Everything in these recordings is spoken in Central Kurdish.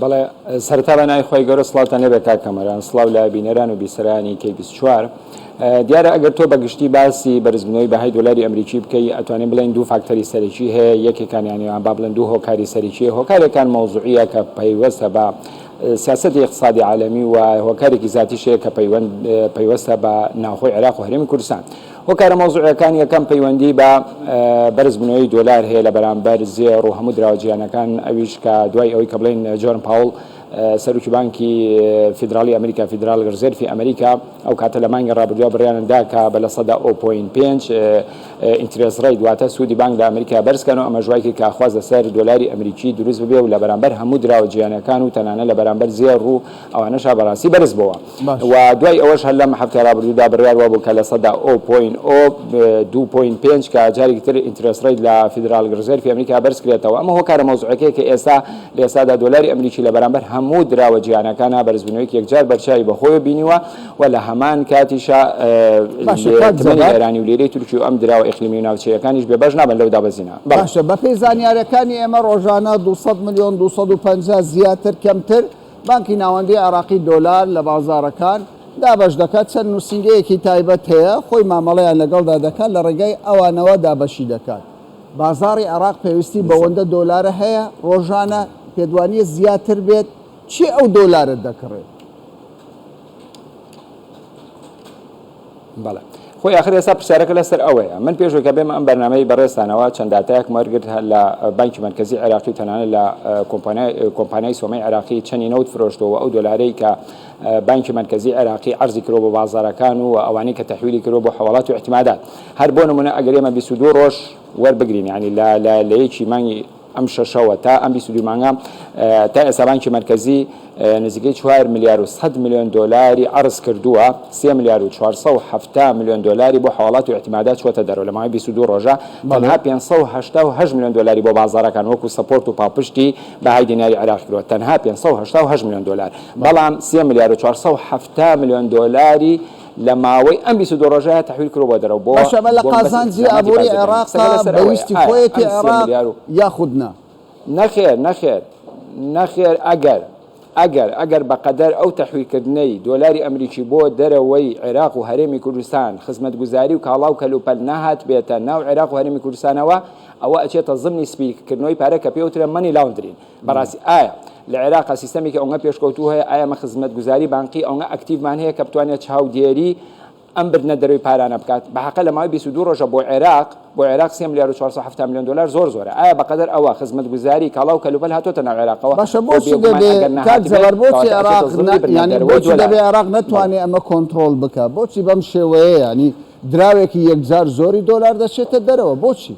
بەڵێ سەرتا بە نای خۆی گەورە سڵاوتان لێ بێت کاکەمەران سڵاو لە بینەران و بیسەرانی کەی 24 دیارە ئەگەر تۆ بەگشتی باسی بەرزبنەوەی بەهای دلاری ئەمریکی بکەی ئەتوانین بڵێن دوو فاکتەری سەرەکی هەیە یەکێکان یانیان با بڵێن دوو هۆکاری سەرکی هۆکارێکان مەوزوعە کە پەیوەستە بە سیاستی اقتصادی عالمی و هۆکارێکی زیاتیشەیە کە پەیوەستە بە ناوخۆی عێراق و هەرێمی کوردستان هۆکارە مەوزوعیەکان، یەکەم پەیوەندی بە بەرز بونەوەی دۆلار هەیە لە بەرامبەر زێڕ و هەموو دراوە جیهانەکان ئەویش کە دوای ئەوەی کە بڵێن جۆرن پاوڵ سەرکی بانکی فیدراڵی ئەمریکا فیدرال گەرزێرفی ئەمریکا ئەو کاتە لە مانگی ڕابردووە بڕیانەدا کە بە لە سەدا ئۆپۆین پێنج ئینترێز ڕێی دواتە سوودی بانک لە ئەمریکا بەرزکەن و ئەمە ژوایکی کاخواز لەسەر دۆلاری ئەمریکی دروست ببێ و لە بەرامبەر هەموو دراوە جیانەکان و تەنانە لە بەرامبەر زێڕ و ئەوانەشا بەراستی بەرز بۆوە و دوای ئەوەش هەر لەم هەفتەی رابردوودا بریار وابوو کە لە سەدا ئۆ پۆین ئۆ دوو پۆین پێنج کە جارێکی تر ئینترێس رەیت لە فیدرال رزێرفی ئەمریکا بەرز کرێتەوە ئەمە هۆکارە مەوزوعەکەیە کە ئێستا لە ئێستادا دۆلاری ئەمریکی لە بەرامبەر هەموو دراوە جیهانەکانا بەرزبوونەوەیەکی یەکجار بەرچاوی بە خۆیەوە بینیوە و لە هەمان کاتیشا تمەنی ئێرانی و لیرەی تورکی و ئەم دراوە ئیقلیمی و ناوچەییەکانیش بێ بەش نابن لەو دابەزینە باشە بەپێی زانیارەکانی ئێمە رۆژانە دوو سەد ملیۆن دوو سەد و پەنجا زیاتر کەمتر بانکی ناوەندی عێراقی دۆلار لە بازاڕەکان دابەش دەکات، چەند نووسینگەیەکی تایبەت هەیە خۆی مامەڵەیان لەگەڵدا دەکات لە ڕێگای ئەوانەوە دابەشی دەکات. بازاڕی عێراق پێویستی بەوەندە دۆلارە هەیە ڕۆژانە، پێتوانییە زیاتر بێت؟ کێ ئەو دۆلارە دەکڕێت؟ بەڵێ خۆی ئاخر ئێستا پرسیارەکە لەسەر ئەوەیە من پێش ئەوکە بێمە ئەم بەرنامەی بەڕێزتانەوە چەند داتایەکم وەرگرت لە بانکی مەرکەزی عێراقی و تەنانەت لە کۆمپانیای سۆمەی عێراقی چەنی نەوت فرۆشتەوە ئەو دۆلارەی کە بانکی مەرکەزی عێراقی عەرزی کرۆ بۆ بازارەکان و ئەوانەی کە تەحویلی کرۆ بۆ حواڵات و احتمادات هەر بۆ نمونە ئەگەر ئێمە 22 ڕۆژ وەربگرین ینی لە یەکی مانگی ئەم شەشەوە تا ئەم بیست و دوو مانگە تا ئێستا بانکی مەرکەزی نزیکەی چوار ملیار و سەد ملیۆن دۆلاری عەرز کردووە، سێ ملیار و چوار سەد و حەفتا ملیۆن دۆلاری بۆ حەواڵات و ئیعتیمادات چووەتە دەرەوە لە ماوەی بیست و دوو ڕۆژە، تەنها پێنج سەد و هەشتا و هەشت ملیۆن دۆلاری بۆ بازاڕەکان وەکو سەپۆرت و پاڵپشتی بەهای دیناری عێراقی کردووە، تەنها پێنج سەد و هەشتا و هەشت ملیۆن دۆلار، بەڵام سێ ملیار و چوار سەد و حەفتا ملیۆن دۆلاری. لە ماوەی ئەم بیست و دوو ڕۆژەیا تەحویل کرووە دەرەوە بۆ بەشە بە لە بۆمبە قازانجی سیخداماتی ئابووری بازدە بێنن عێراقە قسەکە لەسەر بە ئەوەیە ویستی ئایا خۆیەتی ئەم سێ عێراق ملیار و یاخود نا؟ نەخێر نەخێر نەخێر ئەگەر ئەگەر ئەگەر بە قەدەر ئەو تەحویل کردنەی دۆلاری ئەمریکی بۆ دەرەوەی عێراق و هەرێمی کوردستان خزمەتگوزاری و کاڵا و کەلوپەل نەهاتبێتە ناو عێراق و هەرێمی کوردستانەوە ئەوە ئەچێتە زمنی سپی کردنەوەی پارە کە پێی وترێ مەنی لاوندرین بەڕاستی ئایا لە عێراقا سیستەمێکی ئەونگە پێشکەوتوو هەیە؟ ئایا ئێمە خزمەتگوزاری بانقی ئەونگە ئەکتیڤمان هەیە کە بتوانێت چاودێری ئەم بردنە دەرەوەی پارانە بکات؟ بە حەقە لە ماوەی بیست و دوو ڕۆژە بۆ عێراق بۆ عێراق سێ ملیار و چوار سەد و حەفتا ملیۆن دۆلار زۆر زۆرە ئایا بە قەدەر ئەوە خزمەتگوزاری کاڵا و کەلوپەل هاتۆتە ناو عێراقەوە؟ باشە بۆ بۆچی بێگومان دەبێ ئەگەر کاک نەهاتبێت جەبار بۆچی کەواتە ئەچێتە عێراق زڵی نا بردنە یانی دەرەوەی بۆچی دەبێ دۆلار. عێراق بەڵێ. نەتوانێ ئەمە کۆنتڕۆڵ بکا بۆچی بەم شێوەیە یانی دراوێکی یەکجار زۆری دۆلار دەچێتە دەرەوە بۆچی؟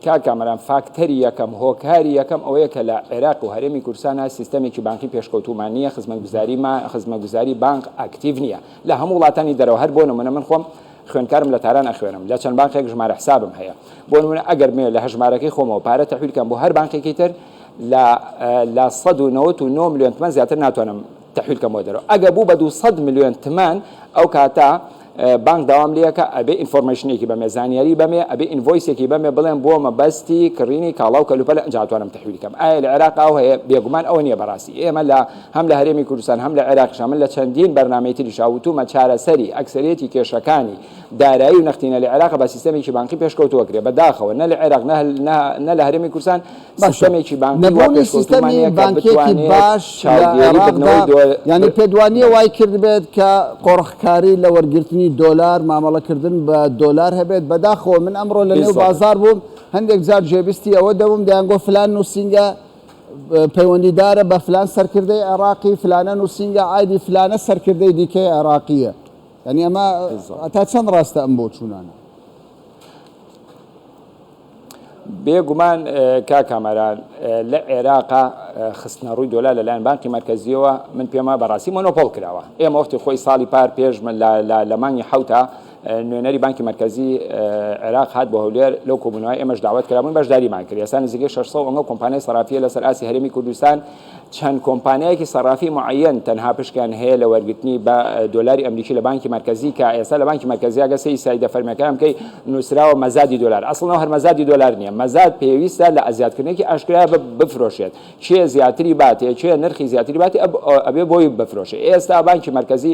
کا کامەران فاکتەری یەکەم هۆکاری یەکەم ئەوەیە کە لە عێراق و هەرێمی کورسانە سیستەمێکی بانکی پێشکەوتومان نییە خزمەتگوزاری ما خزمەتگوزاری بانک ئاکتیڤ نییە لە هەموو وڵاتانی دەرەوە هەر بۆ نمونە من خۆم خوێنکارم لە تاران ئەخوێنم لە چەند بانقێک ژمارە حسابم هەیە بۆ نمونە ئەگەر مێ لە هەژمارەکەی خۆمەوە پارە تەحویلکەم بۆ هەر بانقێکی تر لە 1990 میلیۆن تمەن زیاتر ناتوانم تەحویل کەمەوە دەرەوە ئەگە بوو بە دوو سەد ملیۆن تمەن ئەو کاتە بانک داوام لەکە ئەبێ ئینفۆرمەیشنێکی بەمێ زانیاری بەمێ ئەبێ ئینڤۆیسێکی بەمێ بڵێن بۆ مەبەستی کڕینی کاڵا و کەلوپەل ئەنجاتوانم تەحویل کەم ئایا لە عێراق ئەو هەیە بێگومان ئەوە نییە بەڕاستی ئێمە لە هەم لە هەرێمی کوردستان هەم لە عێراقش هەمن لە چەندین بەرنامەی تریشا وتومە چارەسەری ئەکسەرێتی کێشەکانی دارایی و نەختینە لە عێراق بە سیستەمێکی بانقی پێشکەوتووە کرێ بەداخەوە نە لە عێراق نە نە لە هەرێمی کوردستان سیستەمێکی بانکی وا پێشکەوتوومان نییە کە بتوانێت چاودێری بردنەوەی دۆلار بکات. یانی پێتوانییە وای کردبێت کە قۆرخکاری لە وەرگرتنی دۆلار، مامەڵەکردن بە دۆلار هەبێت. بەداخەوە من ئەمڕۆ لە نێو بازاڕ بووم، هەندێک جار گوێبیستی ئەوە دەبووم دەیانگوت فلان نووسینگە پەیوەندیدارە بە فلان سەرکردەی عێراقی، فلانە نووسینگە عایدی فلانە سەرکردەی دیکەی عێراقییە. یانی ئەمە تا چەند ڕاستە ئەم بۆچوونانە؟ بێ گومان کاک کامەران لە عێراقا خستنە ڕووی دۆلار لەلایەن بانقی مەرکەزیەوە من پێم وایە بەڕاستی مۆنۆپۆڵ کراوە ئێمە وەختی خۆی ساڵی پار پێش لە مانگی حەوتا نوێنەری بانکی مەرکەزی عێراق هات بۆ هەولێر لەو کۆبوونەوە ئێمەش داوت کرابوون بەشداریمان کرد ئێستا نزیکەی 600 ئەنگە کۆمپانیای سەرافیە لەسەر ئاسی هەرێمی کوردستان چەند کۆمپانیایەکی سەرافی معەیەن تەنها پشکیان هەیە لە وەرگرتنی بە دۆلاری ئەمریکی لە بانکی مەرکەزی کە ئێستا لە بانکی مەرکەزی ئەگە سەی سایدە فەرمیەکان بکەی نووسراوە مەزادی دۆلار ئەسڵەوە هەر مەزادی دۆلار نییە مەزاد پێویستە لە ئەزیادکردنێکی ئاشکرا بفرۆشێت کێ زیاتری باتێ کێ نرخی زیاتری باتی ئەبێ بۆی بفرۆشێ ئێستا بانکی مەرکەزی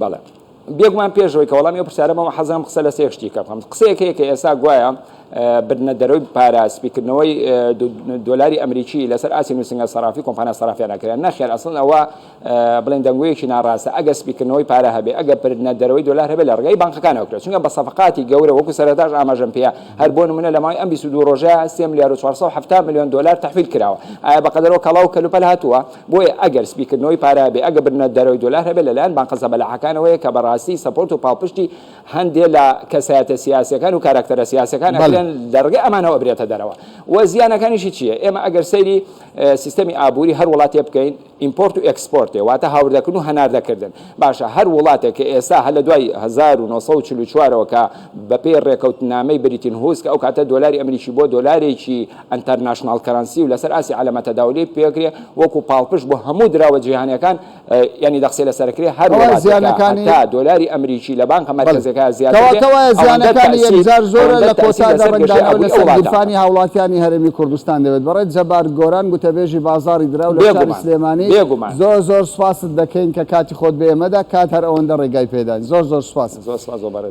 بەڵێ بێگومان پێشەوەی کە وەڵامی ئەو پرسیارە بەم حەزم قسە لە سێ شتیکە بکەم قسەیەک هەیە کە ئێستا گوایە بردنە دەرەوەی پارە سپیکردنەوەی دۆلاری ئەمریکی لەسەر ئاسی نووسنگە سەرافی کۆمپانیا سەرافیان ناکرێن نەخێر ئەسڵن ئەوە بڵێن دەنگویەکی ناڕاستە ئەگە سپیکردنەوەی پارە هەبێ ئەگە بردنە دەرەوەی دۆلار هەبێ لە ڕگەی بانقەکانەوەکرێت چونکە بە سەفقاتی گەورە وەکو سەرتاش ئاماژەم پێ هەر بۆ نمونە لە ماوەی ئەم 22 ڕۆژە 3 ملیار و 470 میلیۆن دلار تحویل کراوە ئایا بەقدرەوە کەڵاو کەلوپەل هاتووە بۆیە ئەگەر سپیکردنەوەی پارە هەبێت، ئەگەر بردنە دەرەوەی دۆلار هەبێت لەلایەن بانقە زەبەلاحەکانەوەیە کە بەڕاستی سەپۆرت و پاڵپشتی هەندێ لە کەسایەتە سیاسیەکان و کاراکتەرە سیاسەکان ئەکرێن لەڕێگەی ئەمانەوە ئەبرێتە دەرەوە و زیانەکانیشی چیە؟ ئێمە ئەگەر سەیری سیستەمی ئابوری هەر وڵاتێ بکەین ئیمپۆرت و ئێکسپۆرتێ واتە هاوردەکردن و هەناردەکردن باشە هەر وڵاتێک کە ئێستا هەر لە دوای هەزار و نۆ سەد و چل و چوار ەوە کە بەپێی ڕێکەوتنامەی بریتن هوز کە ئەو کاتە دۆلاری ئەمریکی بۆ دۆلارێکی ئەنتەرناشناڵ کەرەنسی و لەسەر ئاستی عەلەمە تەداولی پێکرێ وەکو پاڵپشت بۆ هەموو دراوە جیهانیەکان یانی دەقسێ لەسەرکرێ هەر زیانەکانی تا دۆلاری ئەمریکی لە بانکە مەرکەزەکە زیاتەکانی یەکجار زۆرە لە کۆتادەڕنگدانانی هاوڵاتیانی هەرمی کوردستان دەوێت بەڕێت جەبار گۆران گوتەبێژی بازاری دراو لە سلێمانی زۆر زۆر سپاست دەکەین کە کاتی خۆت بێمەدا کات هەر ئەوەندە ڕێگای پێدان زۆر زۆر سپاس زۆر سپاس